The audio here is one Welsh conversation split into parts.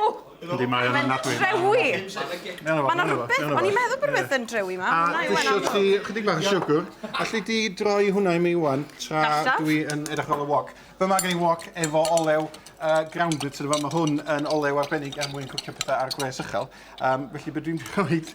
O! Yndi, mae o'n anadwy. Mae'n drewi! Mae yna rhywbeth, o'n i'n meddwl bod rhywbeth yn drewi yma. A dwi isio ti chydig bach o siwgr. Alli di droi hwnna i mi wan tra dwi yn edrych ar ôl y wok. Be mae gen i wok efo olew grounded, so mae hwn yn olew arbennig er mwyn cwcio pethau ar gwres uchel. Felly be dwi'n mynd i wneud...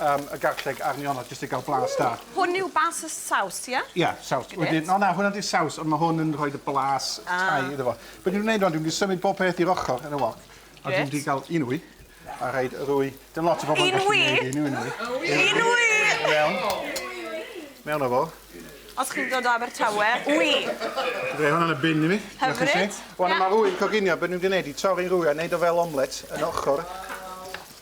um, y garlleg a'r nionod jyst i gael blas da. Hwn yw bas y saws, ie? Yeah? Ie, yeah, saws. Wedyn, no, na, hwnna di saws, ond mae hwn yn rhoi y blas ah. tai iddo fo. Be dwi'n gwneud o'n, dwi'n symud bob peth i'r ochr yn y wok. A dwi'n wedi cael un wy, a rhaid yr wy. Dim lot o bobl yn gallu gwneud un wy. Un wy! Mewn. Mewn o fo. Os chi'n dod o Abertawe, wy! Fe hwn yn y bin i mi. Hyfryd. Wel, mae rwy'n coginio, beth ni'n gwneud i torri rwy a wneud o fel omlet yn ochr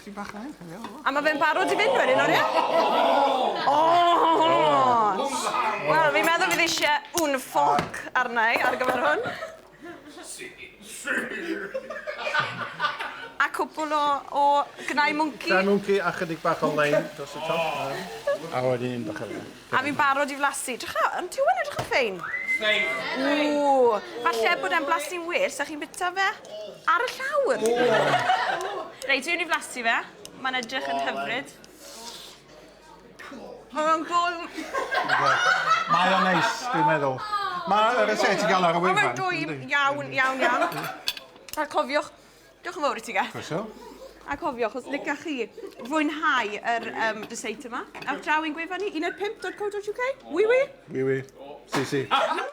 Chi bach yn hyn, hynny o. A mae fe'n barod i fynd wedyn, o'n ie? O! Wel, fi'n meddwl fydd eisiau un ffoc arna i ar gyfer hwn. Si. A cwpl o, o gnau mwnci. Gnau mwnci a chydig bach o lein dros y top. A wedyn un bach o lein. A fi'n barod i flasu. Drycha, ond dyw e'n edrych yn ffein. Ffein. Ww. Falle bod e'n blasu'n well, sa chi'n bita fe ar y llawr. Reit, dwi'n i flasu fe. Mae'n edrych yn hyfryd. Mae o'n gol... Mae o'n neis, dwi'n meddwl. Mae yr esete ti'n gael ar y wefan. Mae'n dwy iawn, iawn, iawn. A cofiwch, Diolch yn fawr i ti, Gath. Croeso. A cofiwch, os licach chi fwynhau yr um, dyseit yma, awch draw i'n gwefan ni, 15.co.uk. Wi wi? Wi wi. Si si.